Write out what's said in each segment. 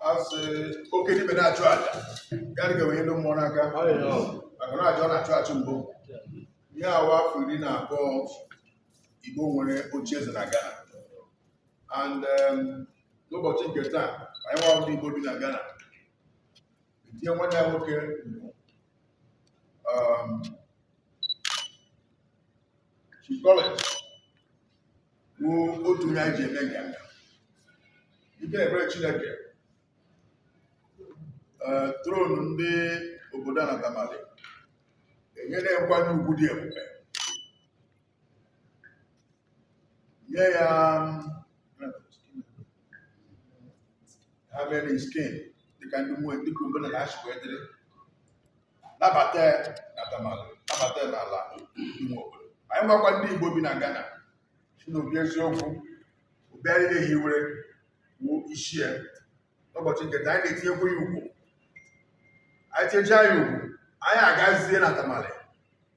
asị oke dibịa na-achụ aja ya adị ka e wenye ndị mmụọ n'aka maka na aja ọ na-achụ achụ mbụ ihe a wụ afọ iri na abụọ Igbo nwere oche eze na Ghana and um, n'ụbọchị nke taa anyị nwa ndị Igbo bi na Ghana etinye nwanne ya nwoke um, otu onye anyị ji eme nganga ike ebere Chineke eh, throne ndị obodo a na Tamale enyere nkwanye ugwu dị ebube nye ya ha enskin dịka ndị mmụọ dịka omenala ha si wee dịrị nabata ya na Tamale nabata ya n'ala ime obodo anyị nwakwa ndị Igbo bi na Ghana sị na ọ bụ eziokwu obi anyị na-ehiwere wuo isi ya n'ụbọchị nke taa, anyị na-etinyekwa ya ugwu anyị tinyechaa ya ugwu anyị agazie na Tamale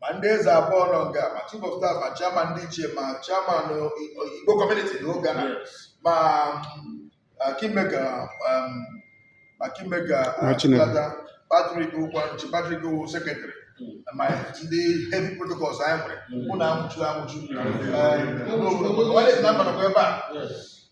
ma ndị eze abụọ nọ nga a ma chief of staff ma chairman ndị ichie ma chairman Igbo community na oge na ma kingmaker ma kingmaker Patrick Ukwanchi Patrick Owo secretary ma ndị head protocols anyị nwere mụ na anwụchu anwụchu ọ na-esi na mbanakwa ebe a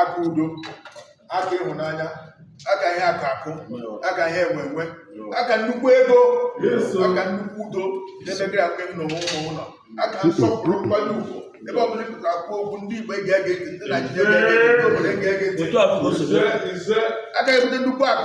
aka udo aka ịhụnanya aka ihe akụ akụ aka ihe enwe enwe aka nnukwu ego aka nnukwu udo n'ebe gị aka ịnụ onwe ụmụ ụlọ aka nsọpụrụ nkwanye ugwu ebe ọ bụla ị pụtara kwuo okwu ndị Igbo ege gị ntị ndị Naijiria ege gị ntị ndị obodo ege gị ntị aka ibute nnukwu akụ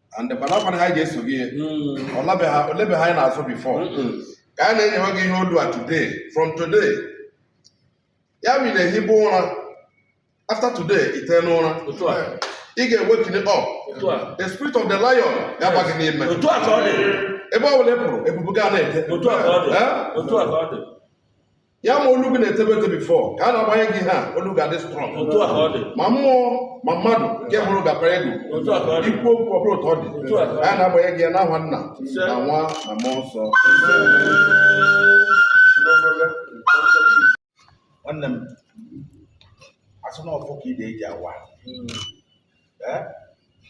and mana ọkwana ha ga-eso gị ihe Mm. ọlabeha olebeha anyị na-azụ before Mm-mm. ka a na-enyewe gị ihe olu a today from today ya bụ ị na-ehibe ụra after today i tee n'ụra Otu a. ị ga-ewake up Otu a. the spirit of the lion ga-aba gị n'ime Otu a ka ọ dị. ebe ọ bụla ị pụrụ ebube gị a na-ete Otu a ka ọ dị. Eh? Otu a ka ọ dị. ya ma olu gị na-etebe ete before ka a na-agbanye gị ihe olu ga-adị strong otu a ka ọ dị ma mmụọ ma mmadụ nke hụrụ ga-apanye gị otu a ka ọ dị i kwuo okwu ọ bụrụ otu ọ dị Otu a ka ọ dị. a na-agbanye gị ya n'aha nna Ise. na nwa na mmụọ nsọ nwanne m asị na ọfọ ka ide ji awa Eh?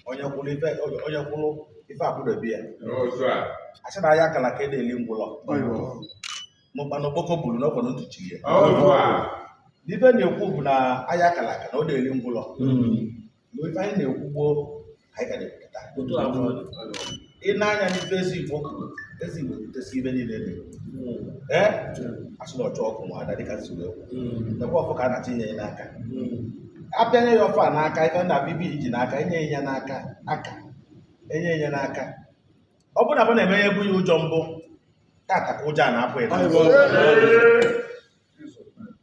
onye kwụrụ ife onye kwụrụ ife akwụdobe ya n'otu a asị na aya akala aka adị eli ngwụlọ ma ụkpana okpoko bulu n'ọkwa ntị chili ya otu a n'ife na-ekwu bụ na aya akala aka na ọ dị eli ngwụlọ mgbe ife anyị na-ekwu gboo ka anyị ka na-ekwupụta otu a bụ ị na-anya n'ife eze igbo kwuru eze igbo kwutesi ife niile dị ee a sị na ọchụ ọkụkọ nwe ada dịka nsogbu ekwu nekwa ọfọ ka a na-achọ inye ya n'aka apịanye ya ọfọ a n'aka ife na bibi ji n'aka enye ya n'aka aka enye ya n'aka ọ bụrụ na bụ na-eme ya ebu ya ụjọ mbụ tata ka ụjọ a na-apụ ya n'azụ.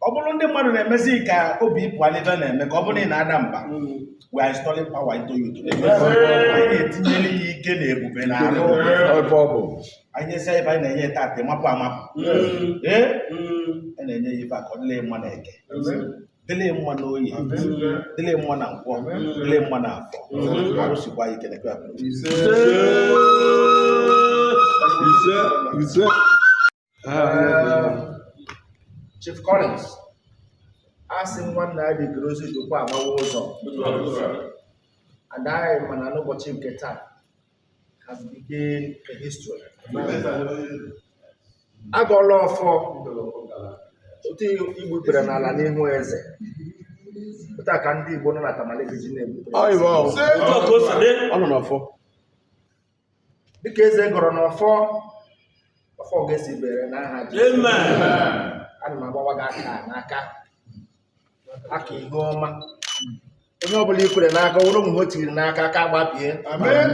ọ bụrụ ndị mmadụ na-emezi ka obi ị pụ n'ife na-eme ka ọ bụrụ na ị na-ada mba we are installing power into you today. anyị na-etinyere ya ike na ebube na arụ ebe ọ bụ anyị nyesi ife anyị na-enye tata ị mapụ amapụ ee a na-enye ya ife a ka ọ dịle mma na eke dịle mma na oye dịle mma na nkwọ dịle mma na afọ arụ sikwa ya ike na ekwe abụrụ ise ise Chief Collins a sị nwanna ya dịgoro ozi dịkwa agbawa ụzọ and anyị ma na n'ụbọchị nke taa has become a history agọọla ọfọ otu i gbu ikpere n'ala n'ihu eze otu a ka ndị igbo nọ na Tamale ga-eji na-egbu Ọ nọ n'ọfọ. dịka eze gọrọ n'ọfọ ọfọ ga-esi bere n'aha Jizọs ana m agbawa gị aka n'aka aka ihe ọma onye ọbụla i kwere n'aka ọ wụrụ o nwe ihe o tiri n'aka aka gbapie amen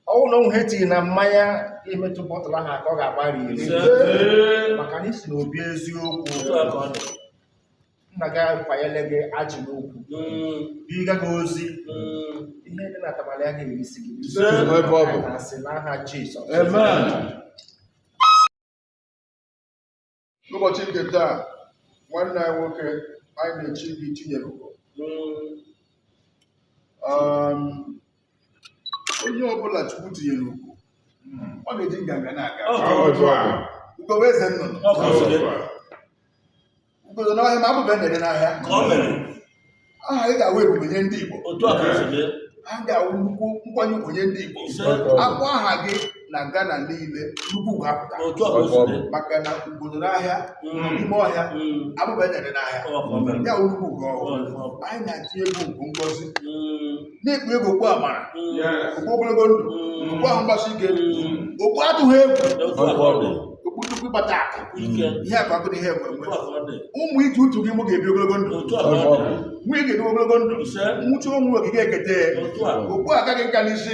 ọ wụ na o nwe ihe o tiri na mmanya i metụ bọtụlụ ahụ aka ọ ga-agbari iri maka na i si n'obi eziokwu nna gị akwanyere gị ajị n'ukwu mm. ị ga n'ozi mm. ihe dị na Tamale a ga-erisi gị asị n'aha Jizọs n'ụbọchị nke taa nwanne anyị nwoke anyị na-echi gị Chinyere Ugo mm. um, onye ọbụla Chukwu tinyere ugo ọ na-eji nganga na-aga ugo wụ eze nnụnụ ugo nọ n'ọhịa ma abụba ya na-ere n'ahịa ka ọ mere aha ị ga-awụ ebube nye ndị Igbo otu a ka o si mee aha ga-awụ nnukwu nkwanye ugwu nye ndị Igbo ise akpọ aha gị na Ghana niile nnukwu ugwu apụta otu a ka o si mee maka na ugo nọ n'ahịa Mm. n'ime ọhịa Mm. abụba ya na-ere n'ahịa Ọ ka ọ mere. ya wụ nnukwu ugwu ọhụrụ Ọ ka ọ mere. anyị na-atụ gị ugo ngozi Mm. na-ekpu gị okpu amara okpu ogologo ndụ okpu ahụ mgbasi ike okpu atụghị egwu okpu nnukwu ịkpata akụ ihe akụ akụ na ihe enwe enwe ụmụ i ji utu gị mụ ga-ebi ogologo ndụ nwunye ga-ebi ogologo ndụ nwụchu ọnwụ ị gaghị ekete okpu a kaa gị nka n'isi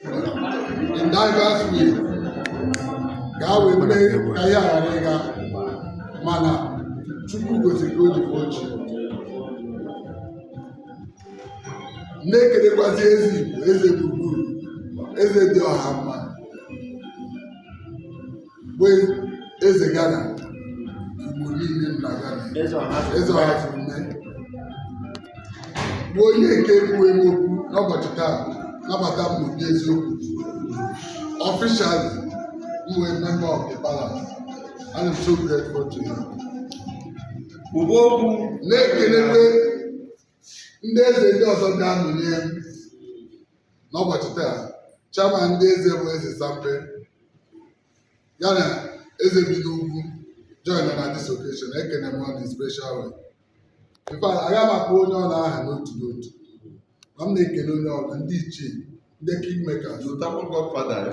in diverse ways ka a wee mee ka ihe ghara ịga mana Chukwu gosiri ka o ji bụ Chi na-ekelekwazi eze Igbo eze gburugburu eze dị ọha mma bụ eze Ghana Igbo niile na Ghana eze Ọhazurume bụ onye nke kwuo m okwu n'ụbọchị taa nabata m n'obi eziokwu officially m wụ member of the palace and I'm so grateful to you. Ugbo okwu na-ekelekwe ndị eze ndị ọzọ ga-anọnye m n'ụbọchị taa chairman ndị eze bụ eze sampe ya na eze bi n'ugwu join na this occasion ekene m ụnụ in special way in fact agaghị m akpọ onye ọbụla aha n'otu n'otu ma m na-ekele onye ọbụla ndị ichie ndị kingmakers Zụtakwa Godfather ya.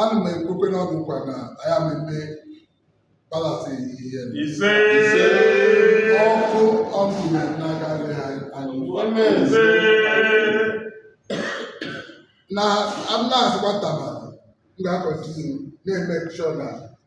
ana m ekwekwa ụnụ nkwa na aya m eme palace ihe ise ọkụ ọkụ na n'aka nri ha anyị ise na amụna-asịkwa taba m ga-acontinue na-emake sure na